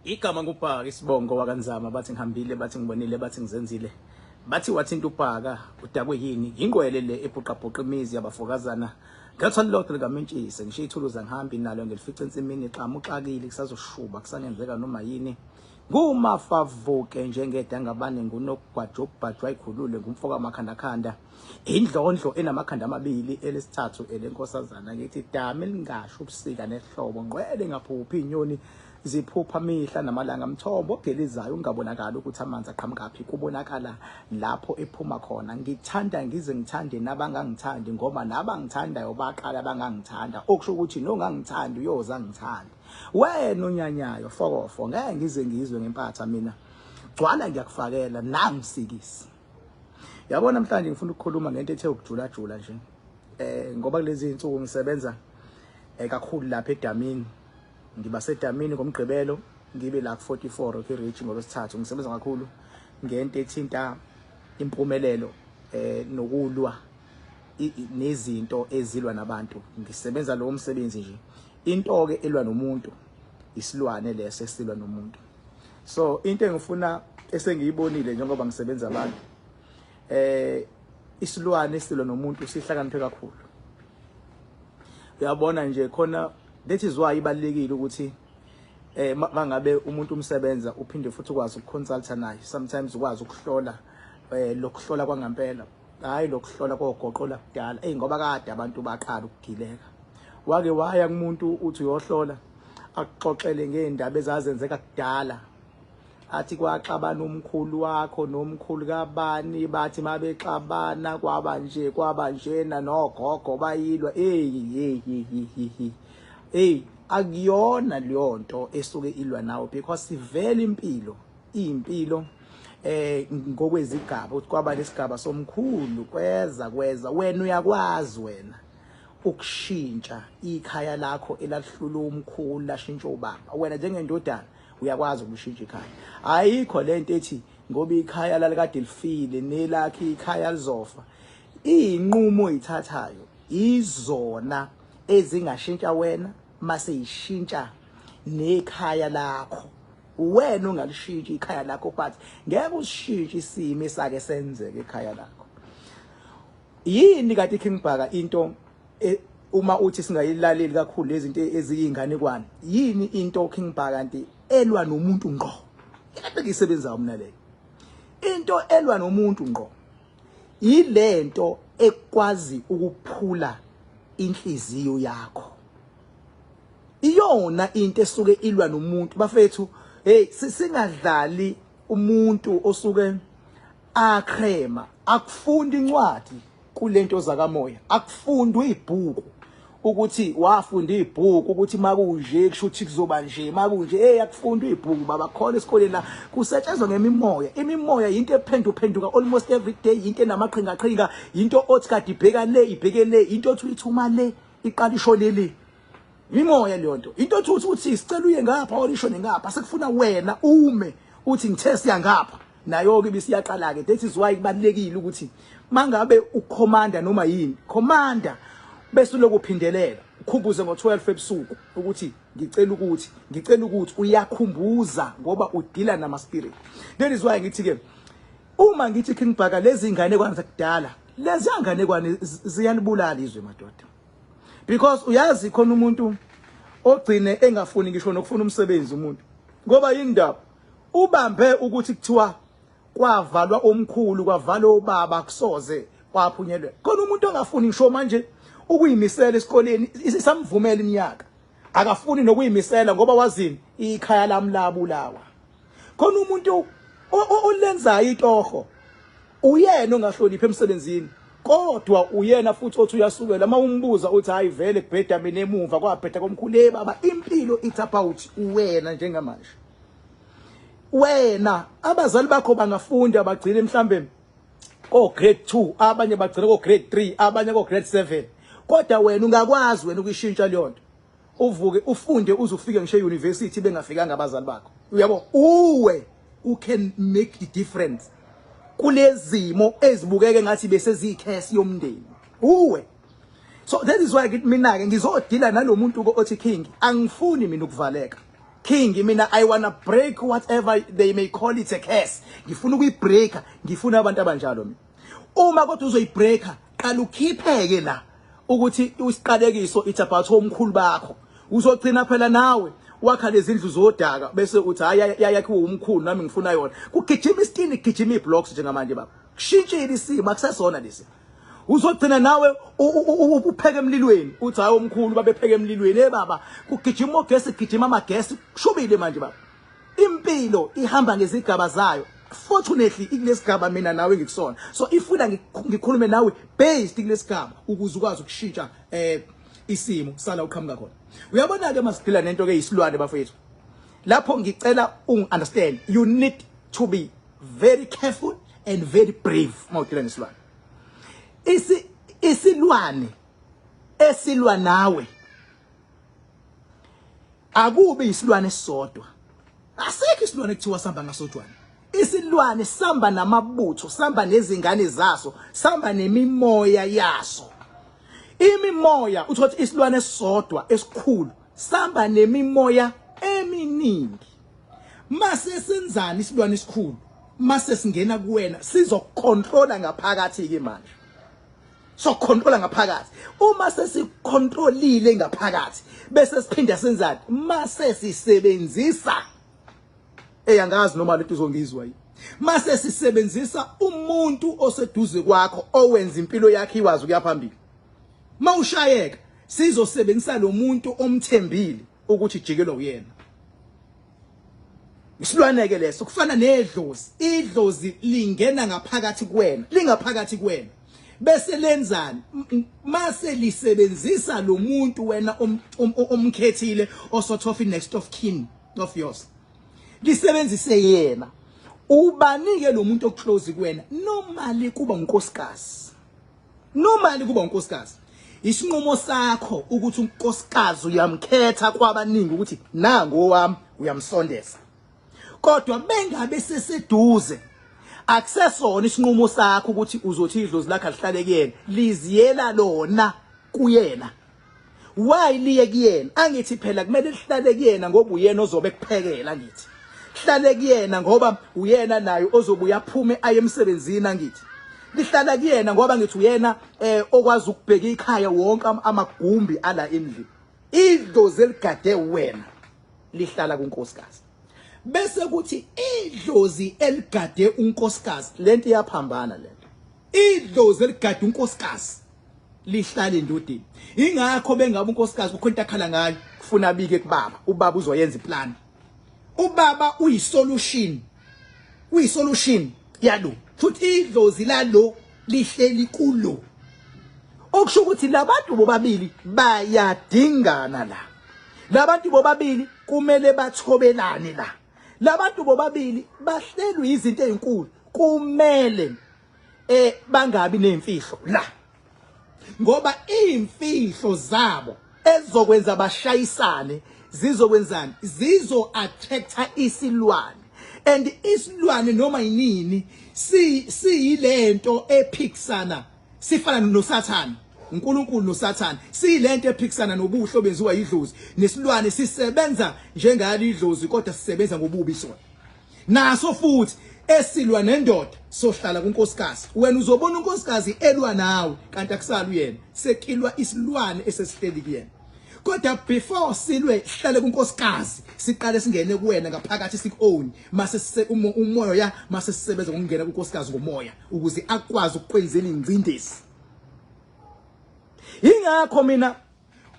igama ngubhaka isibongo wakanzama bathi ngihambile bathi ngibonile bathi ngizenzile bathi wathinta ubhaka udakwe yini yingqwele le ebhuqabhuqa imizi yabafokazana ngethwa lilodwa likamentshise ngisho ithuluzi angihambi nalo ngilifica ensimini xamu uxakile kusazoshuba kusangenzeka noma yini ngumafavuke njengedangabane ngunokugwajobhajwa ikhulule ngumfoka makhandakhanda Indlondlo enamakhanda amabili elesithathu elenkosazana ngithi dame lingasho ubusika nehlobo ngqwele ngaphuphi inyoni ziphupha mihla namalanga mthombo ogelizayo ungabonakala ukuthi amanzi aqhamukaphi kubonakala lapho ephuma khona ngithanda ngize ngithande nabangangithandi ngoba nabangithandayo baqala bangangithanda okusho ukuthi nongangithandi uyoza ngithande wena onyanyayo fokofo ngeke ngize ngizwe ngempatha mina gcwala ngiyakufakela nangisikisi yabo namhlanje ngifuna ukukhuluma ngento ethe ukujulajula nje eh ngoba kulezi insuku ngisebenza eh, kakhulu lapha edamini ngiba sedamini ngomgqibelo ngibe la ku 44 okay reach ngolosithathu ngisebenza kakhulu ngento ethinta impumelelo eh nokulwa nezinto ezilwa nabantu ngisebenza lowo msebenzi nje into ke elwa nomuntu isilwane leso esilwa nomuntu so into engifuna esengiyibonile njengoba ngisebenza abantu eh isilwane silo nomuntu sihlakaniphe kakhulu uyabona nje khona that is why ibalekile ukuthi eh mangabe umuntu umsebenza uphinde futhi ukwazi ukuconsulta naye sometimes ukwazi ukuhlola eh lokuhlola kwangampela hayi lokuhlola kogoqo lakudala eyi ngoba kade abantu baqala ukugileka wake waya kumuntu uthi uyohlola akuxoxele ngeendaba ezazenzeka kudala athi kwaxabana umkhulu wakho nomkhulu kabani bathi mabexabana kwaba nje kwaba njena nogogo bayilwa eyi eyi eyi akuyona leyo nto esuke ilwa nawo because sivele impilo iyimpilo eh ngokwezigaba uthi kwaba lesigaba somkhulu kweza kweza wena uyakwazi wena ukushintsha ikhaya lakho elahlula umkhulu lashintsha ubaba wena njengendodana uyakwazi ukushintsha ikhaya ayikho lento ethi ngoba ikhaya lalikade lifile nelakhe ikhaya lizofa iyinqumo oyithathayo izona ezingashintsha wena mase ishintsha nekhaya lakho wena ungalishintshi ikhaya lakho but ngeke usishintshe isimo esake senzeke ekhaya lakho yini kade King Bhaka into e, uma uthi singayilaleli kakhulu lezinto eziyinganekwane yini into King Bhaka kanti elwa nomuntu ngqo yabeke isebenza umna leyo into elwa nomuntu ngqo Yilento ekwazi ukuphula inhliziyo yakho. Iyona into esuke ilwa nomuntu bafethu hey singadlali umuntu osuke acrema akufunda incwadi kulento zakamoya akufundwa ibhuku ukuthi wafunda ibhuku ukuthi makunje kusho ukuthi kuzoba nje makunje hey akufunda ibhuku baba khona esikoleni la kusetshenzwa ngemimoya imimoya into ephendu phenduka almost every day into enamaqhinga qhinga into othi kade ibheka le ibheke le into othi uyithuma le iqala ishone le imimoya leyo nto into othi uthi sicela uye ngapha or ishone ngapha sekufuna wena ume uthi ngithe siya ngapha Nayoke ibisiyaqala-ke. That is why kubalulekile ukuthi mangabe ukhomanda noma yini, khomanda bese uloku phindelela. Ukhumbuze ngo-12 ebusuku ukuthi ngicela ukuthi, ngicela ukuthi uyakhumbuza ngoba udila nama spirit. That is why ngithi ke uma ngithi King Bhaka lezi ngane kwanza kudala, lezi ngane kwane ziyanibulala izwe madoda. Because uyazi khona umuntu ogcine engafuni ngisho nokufuna umsebenzi umuntu. Ngoba yini ndaba? Ubambe ukuthi kuthiwa kwavalwa umkhulu kwavalwa ubaba kusoze kwaphunyelwe. Khona umuntu ongafuni ngisho manje ukuyimisela esikoleni isamvumela iminyaka. Akafuni nokuyimisela ngoba wazini ikhaya lami labulawa. Khona umuntu olenzayo itoho Uyena ongahloniphi emsebenzini kodwa uyena futhi othi uyasukela uma umbuza uthi hayi vele kubheda mina emuva kwabheda komkhulu hey baba impilo it's about wena njengamanje wena abazali bakho bangafunda bagcine mhlambe ko grade 2 abanye bagcine ko grade 3 abanye ko grade 7 kodwa wena ungakwazi wena ukuyishintsha leyo nto Uvuke ufunde uze ufike ngisho euniversity bengafikanga abazali bakho. Uyabo? Uwe u can make the difference kulezimo ezibukeke ngathi bese ziyikhesi yomndeni. Uwe So that is why ngithi mina ke ngizodila nalomuntu ko othi king angifuni mina ukuvaleka. King mina I wanna break whatever they may call it a curse. Ngifuna ukuyibreaker, ngifuna abantu abanjalo mina. Uma kodwa uzoyibreaker Qala ukhipheke la ukuthi isiqalekiso it's about omkhulu bakho. Uzogcina phela nawe wakha lezindlu zodaka bese uthi hayi yayakhiwe umkhulu nami ngifuna yona. Kugijima isitini kugijima iblocks njengamanje baba. Kushintshile isimo akusesona lesi. uzogcina nawe upheke emlilweni uthi hayi omkhulu babepheke emlilweni hey baba kugijima ogesi kugijima amagesi kushubile manje baba Impilo ihamba ngezigaba zayo. Fortunately ikulesigaba mina nawe ngikusona. So ifuna ngikhulume nawe based kulesigaba ukuze ukwazi ukushintsha eh isimo sala uqhamuka khona. Uyabona ke masiphila nento ke isilwane bafethu. Lapho ngicela ung understand you need to be very careful and very brave mawuphila nesilwane. Isi isilwane esilwa nawe akubi isilwane esisodwa asikho isilwane kuthiwa sihamba ngasodwana isilwane sihamba namabutho sihamba nezingane zaso sihamba nemimoya yaso imimoya uthi ukuthi isilwane esisodwa esikhulu sihamba nemimoya eminingi mase senzani isilwane esikhulu mase singena kuwena sizokucontrola ngaphakathi ke manje so controla ngaphakathi uma sesicontrolile ngaphakathi bese siphinda senzani mase sisebenzisa eyangazi noma lento izongizwa yini mase sisebenzisa umuntu oseduze kwakho owenza impilo yakhe iwazi ukuya phambili mawushayeka sizosebenzisa lo muntu omthembile ukuthi jikelwa uyena isilwaneke leso kufana nedlozi idlozi lingena ngaphakathi kuwena lingaphakathi kuwena bese lenzani mase lisebenzisa lo muntu wena omkhethile osothofi next of kin of yours lisebenzise yena ubanike lo muntu oclose kuwena normally kuba unkosikazi Normally kuba unkosikazi. Isinqumo sakho ukuthi unkosikazi uyamkhetha kwabaningi ukuthi nango wami uyamsondeza. Kodwa bengabe seseduze akusesona isinqumo sakho ukuthi uzothi idlozi lakhe lihlale kuyena liziyela lona kuyena why liye kuyena angithi phela kumele lihlale kuyena ngoba uyena ozobe kuphekela ngithi hlale kuyena ngoba uyena naye ozobuya aphume aye emsebenzini angithi lihlala kuyena ngoba ngithi uyena eh okwazi ukubheka ikhaya wonke amagumbi ala endlini idlozi eligade wena lihlala kunkosikazi bese kuthi idlozi eligade unkosikazi lento iyaphambana lento idlozi eligade unkosikazi lihlale endodeni ingakho bengabe unkosikazi kukho into akhala ngayo kufuna abike kubaba ubaba uzoyenza iplan ubaba uyisolution uyisolution yalo futhi idlozi lalo lihleli kulo okusho ukuthi labantu bobabili bayadingana la labantu bobabili kumele bathobelane la labantu bobabili bahlelwe izinto ezinkulu kumele eh bangabi nemfihlo la ngoba imfihlo zabo ezokwenza bashayisane zizokwenzani zizo attractor isilwane and isilwane noma yinini si siyilento ephikisana sifana nosathana uNkulunkulu noSathane silento ephikisana nobuhle obenziwa idlozi nesilwane sisebenza njengalo idlozi kodwa sisebenza ngobubi sona Naso futhi esilwa nendoda sohlala kunkosikazi wena uzobona unkosikazi elwa nawe kanti akusali uyena sekilwa isilwane esesihleli kuyena kodwa before silwe sihlale kunkosikazi siqale singene kuwena ngaphakathi sikuown mase sise umoya ya mase sisebenza ngokungena kunkosikazi ngomoya ukuze akwazi ukukwenzela ingcindezi ingakho mina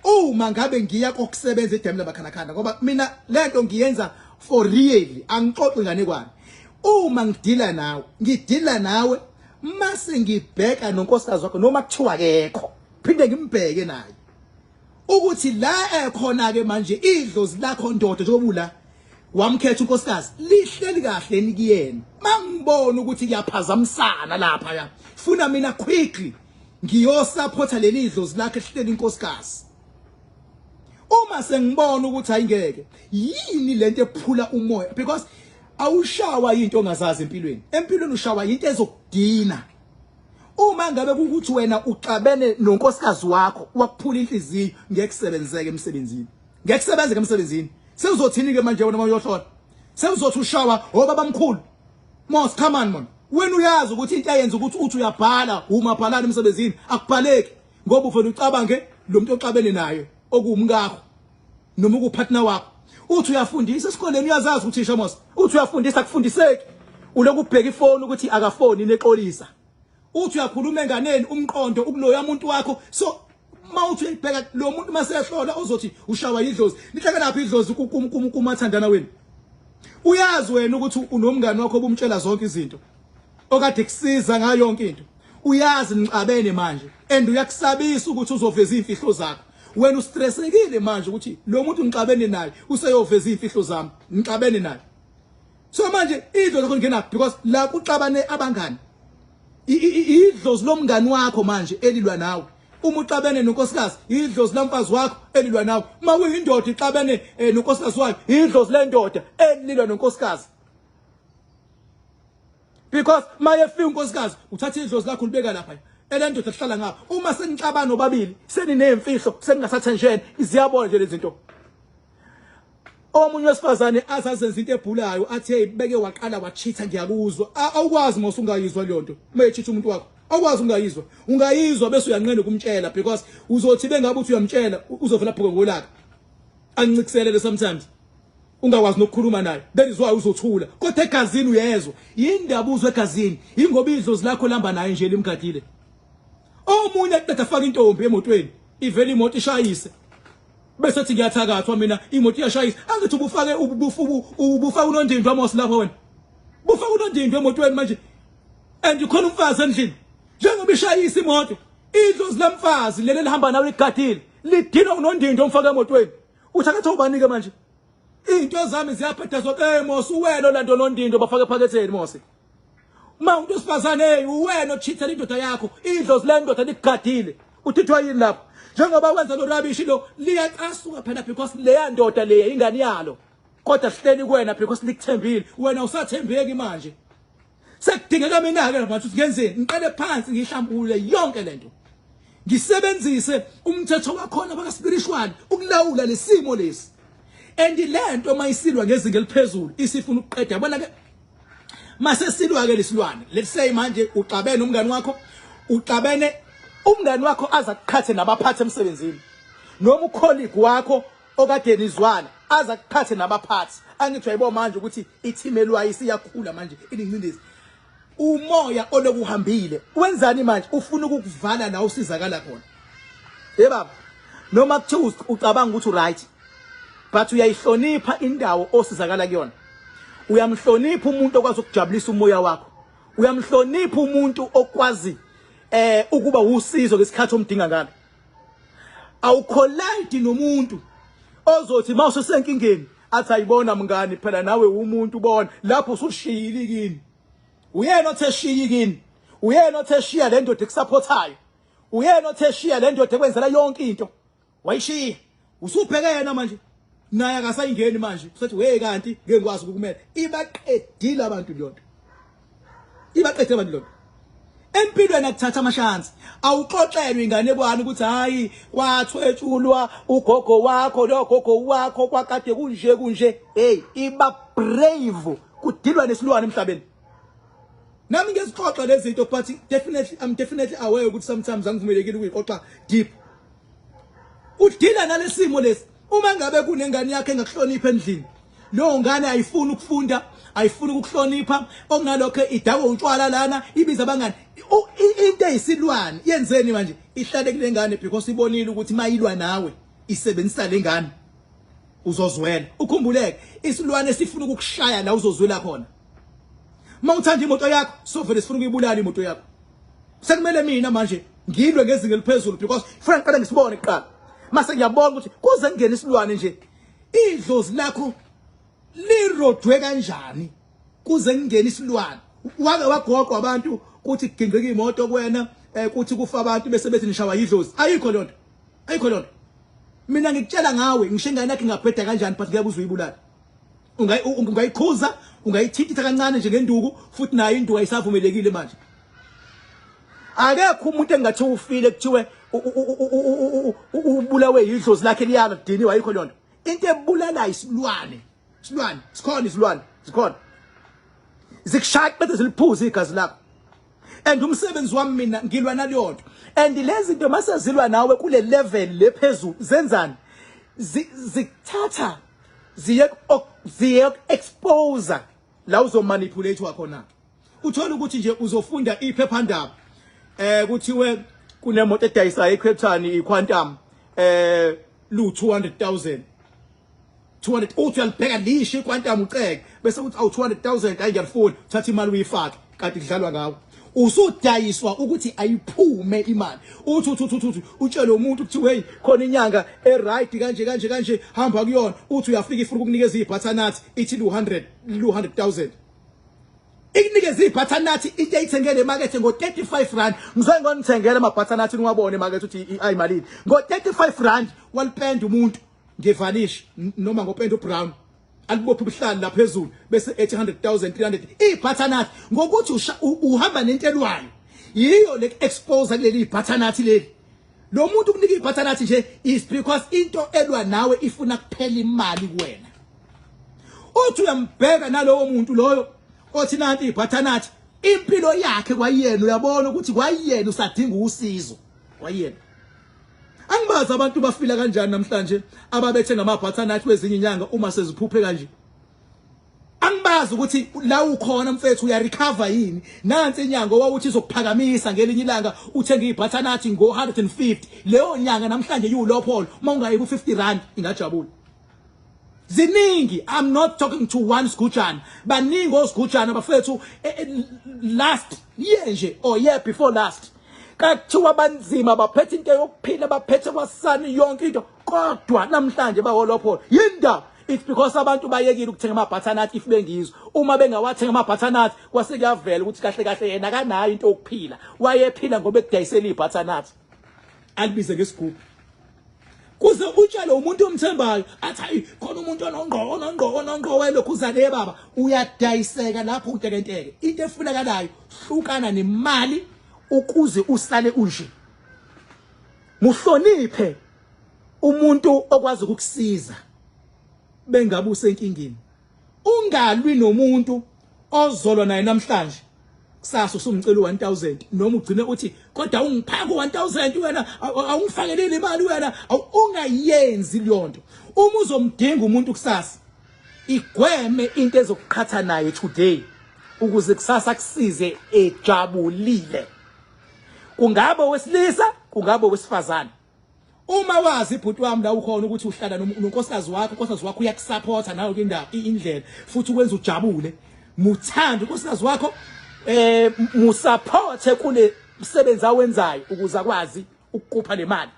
uma ngabe ngiya kokusebenza edemu labakhanakhana ngoba mina lento ngiyenza for really angixoxi nganekwane uma ngidila nawe ngidila nawe mase ngibheka nonkosikazi wakho noma kuthiwa kekho phinde ngimbheke naye ukuthi la ekhona ke manje idlozi lakho ndoda njengoba ula wamkhetha unkosikazi lihleli kahle nikuyena mangibona ukuthi kuyaphazamisana lapha ya funa mina quickly ngiyosaphotha leli idlozi lakhe ehleli inkosikazi uma sengibona ukuthi ayingeke yini lento ephula umoya because awushawa into ongazazi empilweni empilweni ushawa into ezokudina uma ngabe ukuthi wena uxabene nonkosikazi wakho wakuphula inhliziyo ngeke kusebenzeke emsebenzini ngeke kusebenzeke emsebenzini sewuzothini ke manje wena mayohlola sewuzothi ushawa obaba mkhulu Mos come on mona wena uyazi ukuthi into ayenza ukuthi uthi uyabhala uma bhalana emsebenzini akubhaleki ngoba ufuna ucabange lo muntu oxabene naye okuwumkakho noma ukupartner wakho uthi uyafundisa esikoleni uyazazi ukuthi isho mos uthi uyafundisa kufundiseki ulokubheka ifoni ukuthi akafoni nexolisa uthi uyakhuluma enganeni umqondo ukuloya umuntu wakho so mawuthi uyibheka lo muntu masehlola uzothi ushawa yidlozi nihlekelaphi idlozi kumathandana wenu uyazi wena ukuthi unomngane wakho obumtshela zonke izinto okade kusiza ngayo yonke into uyazi nicabene manje and uyakusabisa ukuthi uzoveza izimfihlo zakho wena ustressekile manje ukuthi lo muntu ngixabene naye useyoveza izimfihlo zami ngixabene naye so manje idlo lokho ngingena because la kuxabane abangani idlozi lomngani wakho manje elilwa nawe uma uxabene nonkosikazi idlozi lamfazi wakho elilwa nawe uma kuyindoda ixabene eh, nonkosikazi wayo idlozi lendoda elilwa nonkosikazi because maye fika unkosikazi uthatha idlozi lakho libeka lapha elendoda lihlala ngapha uma senixabana obabili senineyimfihlo seningasathenjene ziyabola nje lezinto omunye wesifazane azazenza into ebhulayo athe beke waqala wachitha ngiyakuzwa awukwazi mos ungayizwa leyo nto uma echitha umuntu wakho awukwazi ungayizwa ungayizwa bese uyanqena ukumtshela because uzothi bengabe uthi uyamtshela uzovela phuke ngolaka ancikiselele sometimes ungakwazi nokukhuluma naye that is why uzothula kodwa egazini uyezwa yindaba uzwe egazini yingoba idlozi lakho lihamba naye nje limgadile omunye aqeda afaka intombi emotweni ivele imoto ishayise bese thi ngiyathakathwa mina imoto iyashayisa angithi ubufake ubufaka unondindwa mos lapho wena bufaka unondindwa emotweni manje and ukhona umfazi endlini njengoba ishayisa imoto idlozi lamfazi leli lihamba nawe ligadile lidinwa unondindwa omfaka emotweni uthakatha ubanike manje into zami ziyabhedazwa ke mos uwena olandonondindwa bafake ephaketheni mose uma umuntu wesifazane hey uwena ochithela indoda yakho idlozi le ndoda nikugadile uthithwa yini lapho njengoba wenza lo rubbish lo liyacasuka phela because leya ndoda leya ingane yalo kodwa sihleli kuwena because likuthembile wena usathembeki manje sekudingeka mina ke manje ngenzeni ngiqale phansi ngihlambulule yonke lento ngisebenzise umthetho wakhona baka spiritual ukulawula lesimo lesi and lento mayisilwa ngezinga eliphezulu isifuna ukuqeda yabona ke mase silwa ke lesilwane let's say manje uxabene umngani wakho uxabene umngani wakho aza kuqhathe nabaphathi emsebenzini noma ukholigi wakho okade nizwana aza kuqhathe nabaphathi angithi wayibo manje ukuthi i-team elwayo isiyakhula manje ilincindezi umoya olokuhambile wenzani manje ufuna ukukuvala la usizakala khona hey baba noma kuthiwa ucabanga ukuthi uright but uyayihlonipha indawo osizakala kuyona uyamhlonipha umuntu okwazi ukujabulisa umoya wakho uyamhlonipha umuntu okwazi eh ukuba usizo ngesikhathi omdinga ngalo awukholidi nomuntu ozothi mawuse senkingeni athi ayibona mngani phela nawe umuntu ubona lapho usushiyile kini uyena othe shiyi kini uyena othe shiya le ndoda ekusapothayo uyena othe shiya le ndoda ekwenzela yonke into wayishiya usubheke yena manje naye akasayingeni manje usethi we kanti ngeke ngikwazi ukukumela ibaqedile abantu leyonto ibaqedile abantu leyonto empilweni akuthatha amashansi awuxoxelwe ingane kwani ukuthi hayi kwathwetshulwa ugogo wakho lo gogo wakho kwakade kunje kunje hey iba brave kudilwa nesilwane emhlabeni nami ngezixoxa lezi zinto but definitely i'm definitely aware ukuthi sometimes angivumelekile ukuyixoxa deep udila nalesimo lesi uma ngabe kunengane yakhe engakuhlonipha endlini leyo ngane ayifuni ukufunda ayifuni ukuhlonipha okunalokho idakwa utshwala lana ibiza abangani into eyisilwane yenzeni manje ihlale kule ngane because ibonile ukuthi mayilwa nawe isebenzisa le ngane uzozwela ukhumbuleke isilwane sifuna ukukushaya la uzozwela khona uma uthanda imoto yakho sovele sifuna ukuyibulala imoto yakho sekumele mina manje ngilwe ngezinga eliphezulu because funa ngiqale ngisibone kuqala mase ngiyabona ukuthi kuze kungena isilwane nje idlozi lakho lirodwe kanjani kuze kungena isilwane wake wagoqwa abantu kuthi kugingqika imoto kwena eh, kuthi kufa abantu bese bethi nishawa yidlozi ayikho lonto ayikho lonto mina ngikutshela ngawe ngisho ingane yakhe ingabheda kanjani but ngiyakuzwa uyibulala ungayikhuza ungayithintitha kancane nje ngenduku futhi nayo induku ayisavumelekile manje akekho umuntu engathi ufile kuthiwe ubulawe yidlozi lakhe liyala dini wayikho lona into ebulalayo isilwane isilwane sikhona isilwane sikhona zikushaya bese ziliphuza igazi lakho and umsebenzi wami mina ngilwa naleyo nto and lezi nto masezilwa nawe kule level lephezulu zenzani zikuthatha ziye ziye expose la uzomanipulate wakhona uthola ukuthi nje uzofunda iphephandaba eh kuthiwe kunemoto edayisayo eCape Town iQuantum eh lu 200000 200 uthi uyalibheka lisho iQuantum uceke bese uthi awu 200000 ayingiyafuni thatha imali uyifake kade kudlalwa ngawo usudayiswa ukuthi ayiphume imali uthi uthi uthi uthi utshele umuntu ukuthi hey khona inyanga e right kanje kanje kanje hamba kuyona uthi uyafika ifuna ukukunikeza ibutternut ithi 200 200000 ikunikeza ibutternut into eyithengele emakethe ngo 35 rand ngizoke ngonithengele ama butternut niwabone emakethe ukuthi ayimalini ngo 35 rand walipenda umuntu ngevanish noma ngopenda ubrown alibophe ubuhlali la phezulu bese 800000 300 ibhathanathi ngokuthi uhamba nentelwayo yiyo le expose kuleli ibhathanathi leli lo muntu kunika ibhathanathi nje is because into elwa nawe ifuna kuphela imali kuwena uthi uyambheka nalowo muntu loyo othi nanti ibhathanathi impilo yakhe kwayena uyabona ukuthi kwayena usadinga usizo kwayena Angibazi abantu bafila kanjani namhlanje ababethe ngamabhatha nathi wezinye inyanga uma seziphuphe kanje. Angibazi ukuthi la ukhona mfethu uya recover yini. Nansi inyanga owawuthi izokuphakamisa ngelinye ilanga uthenga ibhatha nathi ngo 150. Leyo nyanga namhlanje yiwulopho uma ungayi ku 50 rand ingajabula. ziningi i'm not talking to one sigujana baningi osigujana bafethu eh, eh, last year nje or year before last kathiwa banzima baphethe into yokuphila baphethe kwasani yonke into kodwa namhlanje bawolophola yinda it's because abantu bayekile ukuthenga amabhathanathi if bengizwa uma bengawathenga amabhathanathi kwase kuyavela ukuthi kahle kahle yena kanayo into yokuphila wayephila ngoba ekudayisela ibhathanathi alibize ngesigubhu kuze utshele umuntu omthembayo athi hayi khona umuntu onongqo onongqo onongqo welokhuzane yebaba uyadayiseka lapho utekenteke into efunakalayo hlukana nemali ukuze usale unje muhloniphe umuntu okwazi ukukusiza bengabe usenkingeni Ungalwi nomuntu ozolwa naye namhlanje kusasa usumcela u1000 noma ugcine uthi kodwa ungiphaka u1000 wena awungifakeleli imali wena ungayenzi leyonto uma uzomdinga umuntu kusasa igweme into ezokuqhatha naye today ukuze kusasa kusize ejabulile kungaba wesilisa kungaba wesifazane Uma wazi bhuti wami la ukhona ukuthi uhlala nonkosikazi wakho, unkosikazi wakho uyakusupporta nayo ke indaba indlela futhi ukwenza ujabule. Muthanda unkosikazi wakho eh musupporte kule msebenzi awenzayo ukuze akwazi ukuqupha nemali.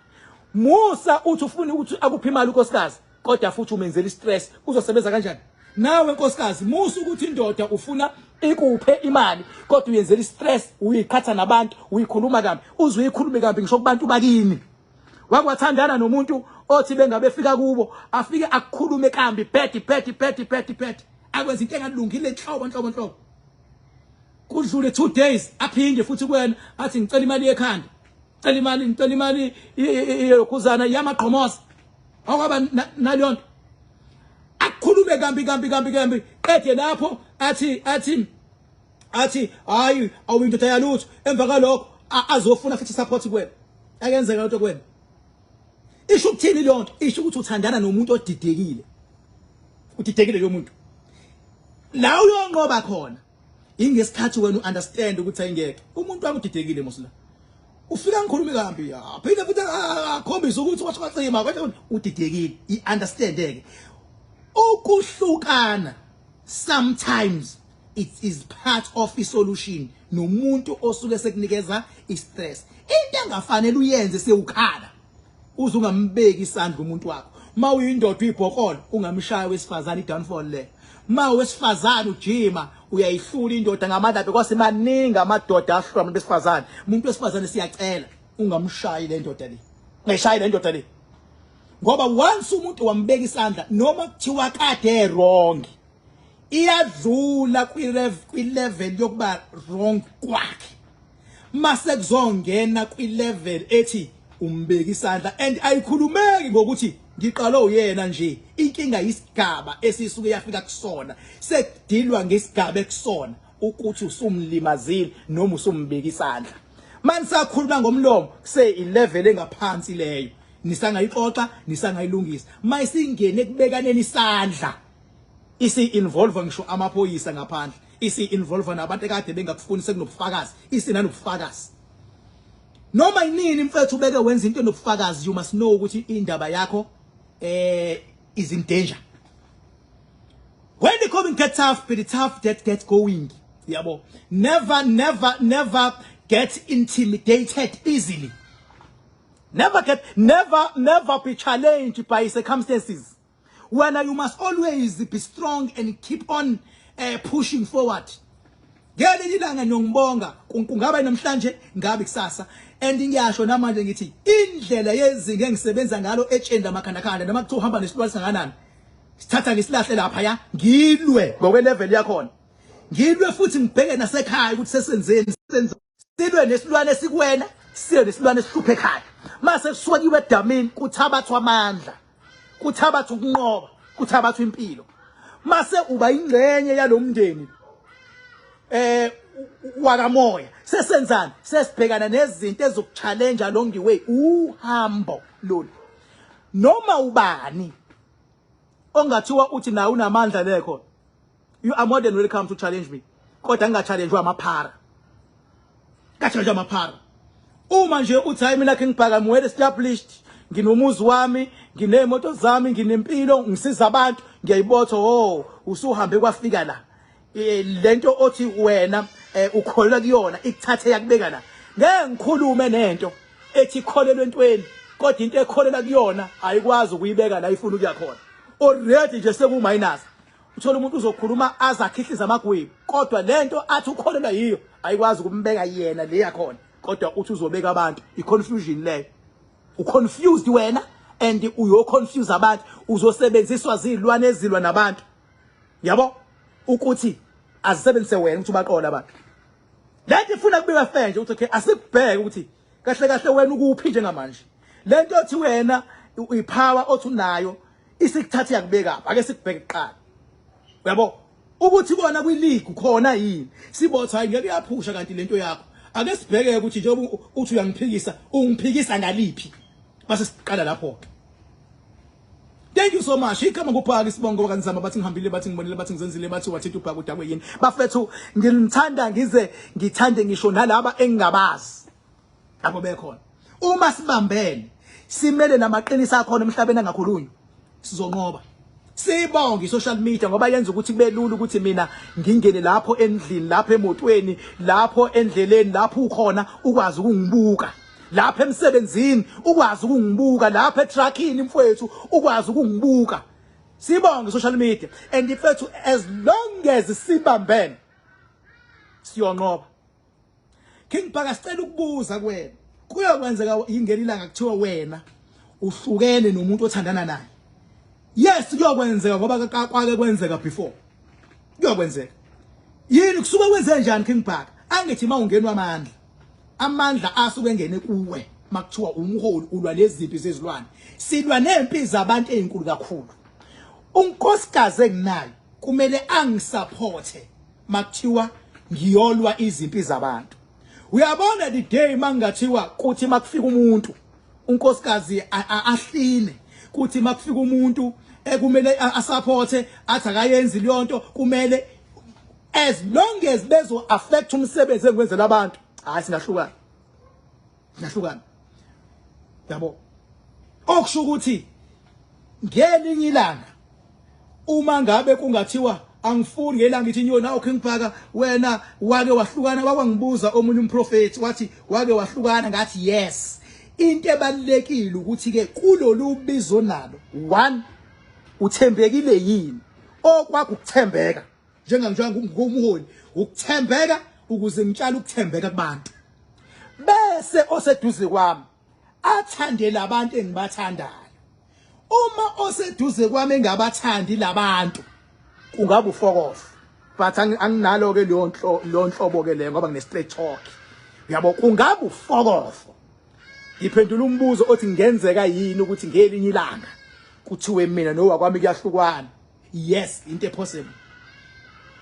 Musa uthi ufuna ukuthi akuphe imali unkosikazi. kodwa futhi umenzela istress uzosebenza kanjani nawe nkosikazi musa ukuthi indoda ufuna ikuphe imali kodwa uyenzela istress uyiqhatha nabantu uyikhuluma kambi uze uyikhulume kambi ngisho kubantu bakini wakwathandana nomuntu othi bengabe fika kubo afike akukhulume kambi phethi phethi phethi phethi phethi akwenza into engalungile nhlobo nhlobo nhlobo kudlule 2 days aphinde futhi kwena athi ngicela imali yekhanda cela imali ngicela imali yokhuzana yamaqhomosa akwaba naleyo nto akhulume kambi kambi kambi kambi qede lapho athi athi athi hayi awuyindoda yalutho emva kalokho azofuna futhi support kuwena akenzeka lento kuwena isho ukuthini leyo nto isho ukuthi uthandana nomuntu odidekile udidekile loyo muntu la uyonqoba khona ingesikhathi wena uunderstand ukuthi ayingeke umuntu wami udidekile musla ufika ngikhulumi kambi aphinde futhi akhombise ukuthi washo kwacima kodwa udidekile iunderstand ke ukuhlukana sometimes it is part of i solution nomuntu osuke sekunikeza i stress into engafanele uyenze sewukhala uze ungambeki isandla umuntu wakho uma uyindoda uyibhokolo ungamshaya wesifazane i-downfall le ma wesifazane ujima uyayihlula indoda ngamandla akhe kwase maningi amadoda ahlula abantu besifazane umuntu wesifazane siyacela ungamshayi le ndoda le ungashayi le ndoda le ngoba once umuntu wambeka isandla noma kuthiwa kade wrong iyadlula kwi-level yokuba wrong kwakhe mase kuzongena kwi level ethi umbeki isandla and ayikhulumeki ngokuthi ngiqalwe uyena nje inkinga isigaba esisuke yafika kusona sekudilwa ngesigaba ekusona ukuthi usumlimazile noma usumbeki isandla manisakhuluma ngomlomo kuse ilevel engaphansi leyo nisangayixoxa nisangayilungisa mayisingene kubekaneni isandla isi involve ngisho amaphoyisa ngaphandle Isi involve nabantu ekade bengakufuni sekunobufakazi. Isi nanobufakazi. Noma yinini mfethu ubeke wenza into enobufakazi you must know ukuthi indaba yakho eh is in danger. When the coming get tough, be the tough that get going. Yabo. Never never never get intimidated easily. Never get never never be challenged by circumstances. wena you must always be strong and keep on uh, pushing forward ngelinye ilanga ngiyongibonga kungaba namhlanje ngabe kusasa and ngiyasho namanje ngithi indlela yezinga engisebenza ngalo etshenda amakhandakhanda noma kuthiwa uhamba nesilwane singakanani sithatha ngisilahle lapha ya ngilwe ngokwelevel yakhona ngilwe futhi ngibheke nasekhaya ukuthi sesenzeni senza silwe nesilwane esikwena silwe nesilwane esihluphe ekhaya mase kusuka kiwe edamini kuthabathwa amandla kuthabathwa ukunqoba kuthabathwa impilo mase uba ingcenye yalomndeni eh wakamoya sesenzani sesibhekana nezinto ezokuchallenge along the way uhambo lolu noma ubani ongathiwa uthi naye unamandla lekhona You are more than welcome to challenge me. Kodwa ngingachallenjwa amaphara. Ngachallenjwa amaphara. Uma nje uthi hayi mina kengibhaka ngwele established, nginomuzi wami, nginemoto zami, nginempilo, ngisiza abantu, ngiyayibotha ho, usuhambe kwafika la. Eh, lento othi wena eh, ukholwa kuyona ikuthathe yakubeka la. Ngeke ngikhulume nento ethi kholelwe entweni kodwa into ekholela kuyona ayikwazi ukuyibeka la ifuna ukuya khona. Already nje seku minus. Uthola umuntu uzokhuluma aze akhihlize amagwebu kodwa lento athi ukholelwa yiyo ayikwazi ukumbeka yena le yakhona kodwa uthi uzobeka abantu i-confusion leyo u-confused wena and uyoconfuse abantu uzosebenziswa zilwane ezilwa nabantu yabo ukuthi azisebenzise wena ukuthi ubaqola abantu lento ifuna kubika fair nje ukuthi okay asikubheke ukuthi kahle kahle wena ukuphi njengamanje lento othi wena uyipower othi unayo isikuthatha yakubeka ake sikubheke kuqala uyabo ukuthi kona kwi league khona yini sibotha hayi ngeke yaphusha kanti lento yakho ake sibheke ukuthi nje uthi uyangiphikisa ungiphikisa ngaliphi base siqala lapho ke Thank you so much. Ikhama kuphaka isibongo kanzama bathi ngihambile bathi ngibonile bathi ngizenzile bathi wathetha ubhaka udakwe yini. Bafethu ngilithanda ngize ngithande ngisho nalaba engingabazi. abo bekhona uma sibambene simele namaqiniso akhona emhlabeni angakhulunywa sizonqoba sibonge social media ngoba yenza ukuthi kubelula ukuthi mina ngingene lapho endlini lapho emotweni lapho endleleni lapho ukhona ukwazi ukungibuka lapha emsebenzini ukwazi ukungibuka lapha etruckini mfowethu ukwazi ukungibuka sibonge social media and mfowethu as long as sibambene siyonqoba King Bhaka sicela ukubuza kuwena kuyokwenzeka ingeni ilanga kuthiwa wena uhlukene nomuntu othandana naye yes kuyokwenzeka ngoba kwake kwenzeka before kuyokwenzeka yini kusuke kwenze njani King Bhaka angithi uma ungenwa amandla amandla asuke engene kuwe makuthiwa umholi ulwa nezimpi zezilwane silwa nempi zabantu ezinkulu kakhulu unkosikazi enginayo kumele angisaphothe makuthiwa ngiyolwa izimpi zabantu uyabona the day mangingathiwa kuthi makufika umuntu unkosikazi ahline kuthi makufika umuntu ekumele asupporte athi akayenzi leyo nto kumele as long as bezo affect umsebenzi engiwenzela abantu hayi singahlukana Nahlukana. Yabo. Okusho ukuthi ngelinye ilanga uma ngabe kungathiwa angifuni ngelanga ngithi nyo nawo khengibhaka wena wake wahlukana wakwangibuza omunye umprofeti wathi wake wahlukana ngathi yes into ebalekile ukuthi ke kulolu bizo nalo one uthembekile yini okwakho ukuthembeka njenganjani ngumholi ukuthembeka ukuze ngitshale ukuthembeka kubantu bese oseduze kwami athande labantu engibathandayo uma oseduze kwami engabathandi labantu kungaba ufokofa but anginalo ke leyo nhlo lo nhlobo ke le ngoba ngine straight talk uyabo kungaba ufokofo ngiphendula umbuzo othi ngenzeka yini ukuthi ngelinye ilanga kuthiwe mina nowakwami kuyahlukwana yes into possible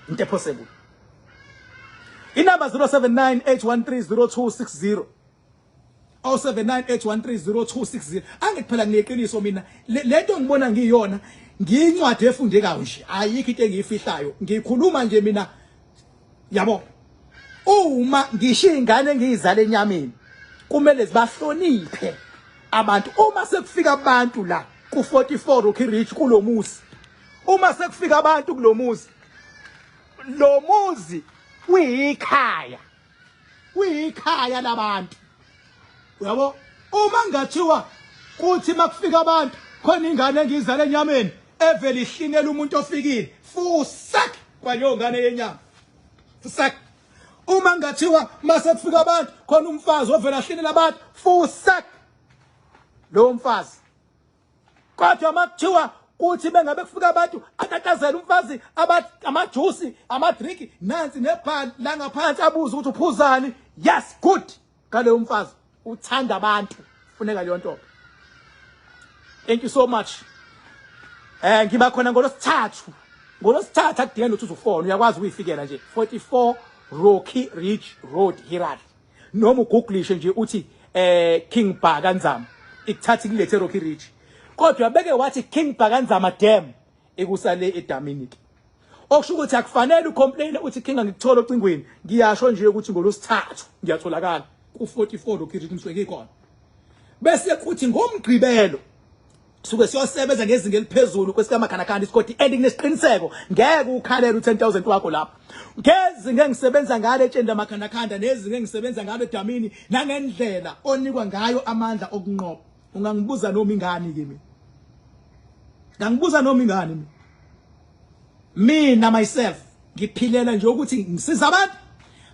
into possible inumber 0798130260 0798130260 angithi phela ngineqiniso mina lento ngibona ngiyona ngiyincwadi efundekayo nje ayikho into engiyifihlayo ngikhuluma nje mina yabo uma ngisho izingane engiyizala enyameni kumele zibahloniphe abantu uma sekufika abantu la ku 44 Rocky Ridge kulomuzi uma sekufika abantu kulomuzi lo muzi uyikhaya uyikhaya labantu uyabo uma ngathiwa kuthi makufika abantu khona ingane engizale enyameni evele ihlinela umuntu ofikile fusak kwaleyongane yenyama fusak uma ngathiwa mase kufika abantu khona umfazi ovela hlinela abantu fusak lowo mfazi kodwa makuthiwa kuthi bengabe kufika abantu atatazela umfazi amajusi amadriki nansi nebhali la ngaphansi abuze ukuthi uphuzani yes good Kale umfazi uthanda abantu funeka leyo ntombi. Thank you so much. Eh ngiba khona ngolosithathu. Ngolosithathu akudinge lutho uzufona uyakwazi ukuyifikela nje 44 Rocky Ridge Road Hirari. Noma ugooglishe nje uthi eh King Bhaka Nzama ikuthatha ikulethe Rocky Ridge. Kodwa beke wathi King Bhaka Nzama Dam ekusale edamini ke okusho ukuthi akufanele ucomplain uthi kinga ngikuthola ocingweni ngiyasho nje ukuthi ngolosithathu ngiyatholakala ku44 lokhithi kumsweke ikhona bese kuthi ngomgqibelo suke siyosebenza ngezinga eliphezulu kwesikamakhanakana isikoti and nginesiqiniseko ngeke ukhalele u10000 wakho lapha ngezinga engisebenza ngalo etsheni lamakhandakhanda nezinga engisebenza ngalo edamini nangendlela onikwa ngayo amandla okunqoba Ungangibuza noma ingani ke mina. Ngangibuza noma ingani mina. Mina myself ngiphilela nje ukuthi ngisiza abantu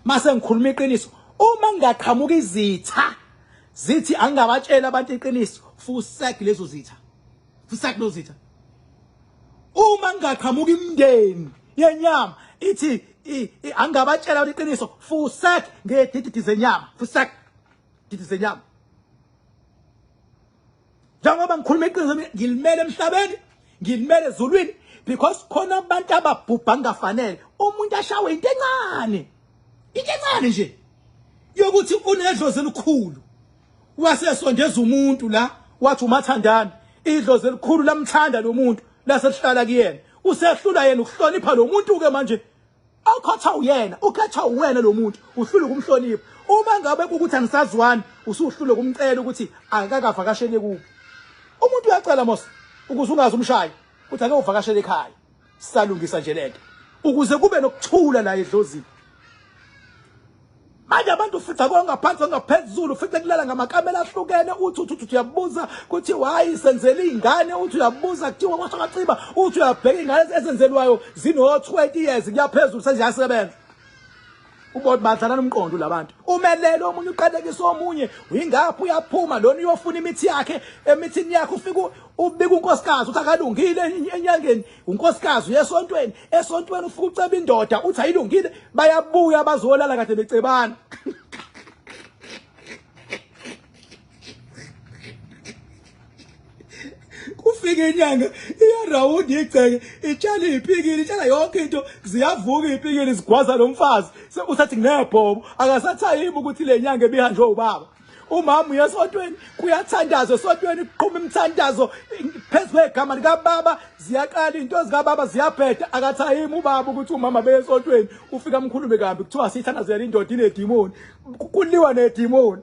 mase ngikhuluma iqiniso uma ngingaqhamuka izitha zithi angingabatshela abantu iqiniso fusek lezo zitha fusek lezo zitha uma ngingaqhamuka imndeni yenyama ithi angingabatshela abantu iqiniso fusek ngedididi zenyama fusek gidi zenyama njengoba ngikhuluma iqiniso ngilimele emhlabeni ngilimele ezulwini because khona abantu ababhubha ngafanele umuntu ashawe into encane into encane nje yokuthi unedlozi elikhulu wasesondeza umuntu la wathi umathandana idlozi elikhulu lamthanda lo muntu lasehlala kuyena usehlula yena ukuhlonipha lo muntu ke manje okhetha uyena ukhetha uwena lo muntu uhlule ukumhlonipha uma ngabe kukuthi anisazwani usuhlule kumcela ukuthi akakavakashele kuphi umuntu uyacela mos ukuze ungazi umshayo ukuthi ake uvakashele ekhaya salungisa nje lento ukuze kube nokuthula la edlozini manje abantu ufica kwangaphansi ongaphezulu ufice kulala ngamakamela ahlukene uthi uthi uthi uyabuza kuthi hayi senzela izingane uthi uyabuza kuthiwa kwasho kaciba uthi uyabheka izingane ezenzelwayo zino 20 years kuyaphezulu senjasebenza ubona badlana nomqondo labantu umelele omunye uqalekisa omunye uyingaphi uyaphuma lona uyofuna imithi yakhe emithini yakhe ufika ubika unkosikazi uthi akalungile enyangeni unkosikazi uyesontweni esontweni ufika uceba indoda uthi ayilungile bayabuya bazolala kade becebana kufika inyanga iyarawundi igceke itshala iy'pikili itshala yonke into ziyavuka iy'pikili zigwaza lo mfazi sekusathi nginebhobo akasathayimi ukuthi le nyanga ebihanjwe ubaba umama uye esotweni kuyathandaza esotweni kuqhuma imithandazo phezu kwegama likababa ziyaqala into zikababa ziyabheda akathayimi ubaba ukuthi umama beye esotweni ufika amkhulume kambi kuthiwa siyithandazela indoda inedimoni kuliwa nedimoni